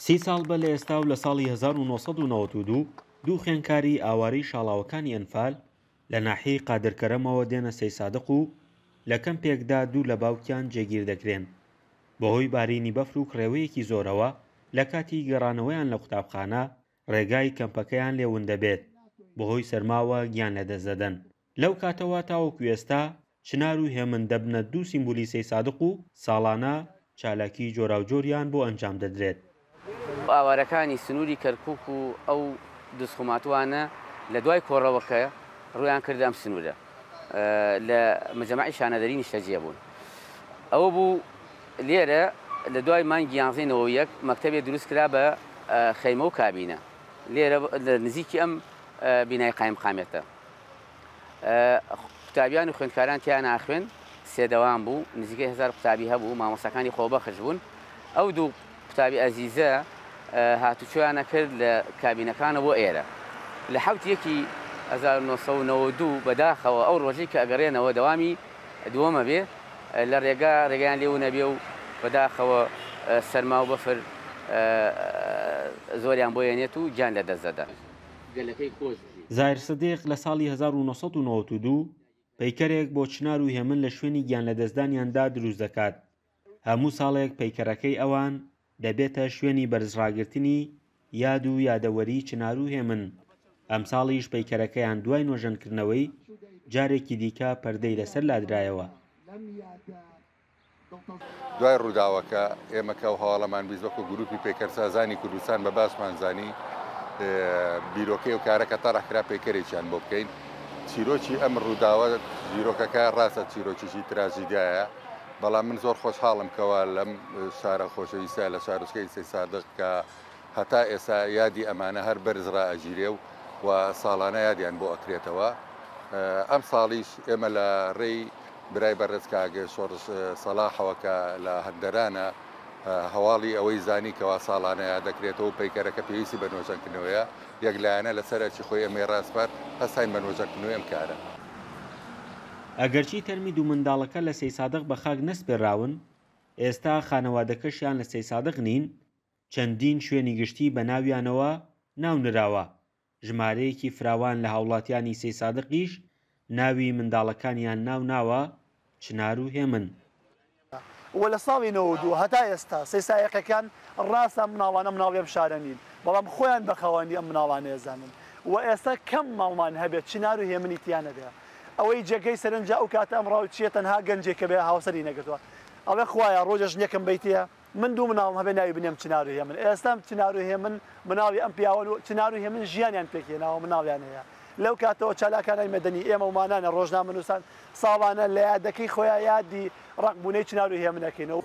سی ساڵ بە لە ئێستا و لە ساڵی 1992 دوو خوێندکاری ئاوارەی شاڵاوەکانی ئەنفال لە ناحیەی قادرکەرەمەوە دێنە سەیسادق و لە کەمپێکدا دوور لە باوکیان جێگیر دەکرێن بەهۆی بارینی بەفر و کڕێوەیەکی زۆرەوە لە کاتی گەڕانەوەیان لە قوتابخانە ڕێگای کەمپەکەیان لێ وندەبێت بەهۆی سەرماوە گیان لەدەست دەدەن لەو کاتەوە تاوەکو ئێستا چنار و هێمن دەبنە دوو سیمبولیسەی سادق و ساڵانە چالاکیی جۆراوجۆریان بۆ ئەنجام دەدرێت. خۆ ئاوارەکانی سنووری کەرکووک و ئەو دزخوماتووانە لە دوای کۆڕەوەکە ڕوویان کردە ئەم سنوورە لە مجەمەعی شانەدەری نیشتەجێ بوون. ئەوە بوو لێرە لە دوای مانگی یانزەی نەوەو یەک مەکتەبێ دروست کرا بە خەیمە و کابینە لێرە لە نزیکی ئەم بینای قایمقامیەتە. قوتابیان و خوێندکاران تیا ناخوێن سێدەوام بوو نزیکە هزار قوتابی هەبوو مامۆسەکانی خۆبەخش بوون ئەو دوو قوتابی ئەزیزە هاتوچۆیانە کرد لە کابینەکانە بۆ ئێرە لە حوت یەکی 1992 بەداخەوە ئەو ڕۆژی کە ئەگەڕێنەوە دەوامی دووەمە بێ لە ڕێگا ڕێگەیان لێو نەبێ و بەداخەوە سەرما و بەفر زۆریان بۆیەنێت و گیان لە دەست دەدەن گەلەکەی خۆش زاهیر سدیق لە ساڵی 1992 پەیکەرێک بۆ چنار و هێمن لە شوێنی گیان لەدەستدانیاندا دروست دەکات هەموو ساڵێک پەیکەرەکەی ئەوان دەبێتە شوێنی بەرزڕاگرتنی یاد و یادەوەری چنار و هێمن ئەمساڵیش پەیکەرەکەیان دوای نۆژەنکردنەوەی جارێکی دیکە پەردەی لەسەر لادرایەوە دوای ڕووداوەکە ئێمە کە ئەو هەواڵەمان بیست وەکو گروپی پەیکەرسازانی کوردستان بە باسمان زانی بیرۆکەی و کارەکە تەڕەحکرا پەیکەرێکیان بۆ بکەین چیرۆکی ئەم ڕووداوە زیرۆکەکە ڕاستە چیرۆکیی تراژیدایە بەڵام من زۆر خۆشحاڵم کەوا لەم شارە خۆشەویستە لە شارۆچکەی سەی سادق کە هەتا ئێستا یادی ئەمانە هەر بەرز رائەگیرێ و وا ساڵانە یادیان بۆ ئەکرێتەوە. ئەم ساڵیش ئێمە لە رێی برای بەڕێز کاک شۆڕش سەڵاحەوە کە لە هەندەرانە هەواڵی ئەوەی زانی کە وا ساڵانە یاد دەکرێتەوە و پەیکەرەکە پێویستی بە نۆژەنکردنەوەیە یەک لایەنە لە سەر ئەرکی خۆی ئەمەی راسپارد، هەستاین بە نۆژەنکردنەوەی ئەم کارە. ئەگەرچی تەرمی دوو منداڵەکە لە سەیسادق بە خاک نەسپێرراون، ئێستا خانەوادەکەشیان لە سەیسادق نین، چەندین شوێنی گشتی بە ناویانەوە ناو نراوە، ژمارەیەکی فراوان لە هاوڵاتیانی سەیسادقیش ناوی منداڵەکانیان ناو ناوە چنار و هێمن. وە لە ساڵی نەوەد و دوو هەتا ئێستا سەیسایەقەکان ڕاستە ئەم مناڵانە مناڵی ئەم شارە نین بەڵام خۆیان بە خاوەنی ئەم مناڵانە ئەزانن وە ئێستا کەم ماڵمان هەبێت چنار و هێمنی تیا نەبێ ئەوەی جێگەی سەرنجە ئەو کاتە ئەم ڕاوچیە تەنها گەنجێکە بێ هاوسەری نەگرتوە ئەڵێ خوایە ڕۆژێ ژنێکم بەیتێ من دوو مناڵم هەبێ ناوی بنێم چنار و هێمن ئێستا چنار و هێمن مناڵی ئەم پیاوەن و چنار و هێمن ژیانیان پێک هێناوە مناڵیان هەیە لەو کاتەوە چالاکانای مەدەنی ئێمە ومانانە ڕۆژنامەنووسان ساڵانە لە یادەکەی خۆیان یادی ڕەق بوونەی چنار و هێمن ئەکەین و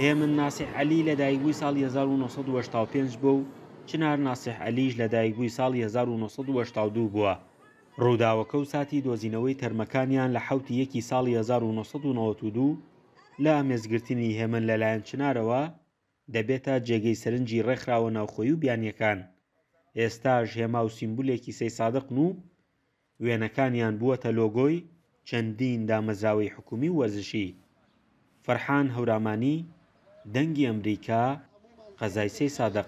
هێمن ناسیح عەلی لە دایک بووی ساڵی هەزار و نۆ سەد و هەشتا و پێنج بووە و چنار ناسیح عەلیش لە دایک بووی ساڵی هەزار و نۆ سەد و هەشتا و دوو بووە ڕووداوەکە و ساتی دۆزینەوەی تەرمەکانیان لە حەوتی یەکی ساڵی هەزار و نۆ سەد و نەوەد و دوو لە ئامێزگرتنی هێمن لەلایەن چنارەوە، دەبێتە جێگەی سەرنجی ڕێکخراوە ناوخۆیی و بیانییەکان. ئێستاش هێما و سیمبولێکی سەی سادقن و وێنەکانیان بووەتە لۆگۆی چەندین دامەزراوەی حکوومی و وەرزشی. فەرحان هەورامانی، دەنگی ئەمریکا، قەزای سەی سادق.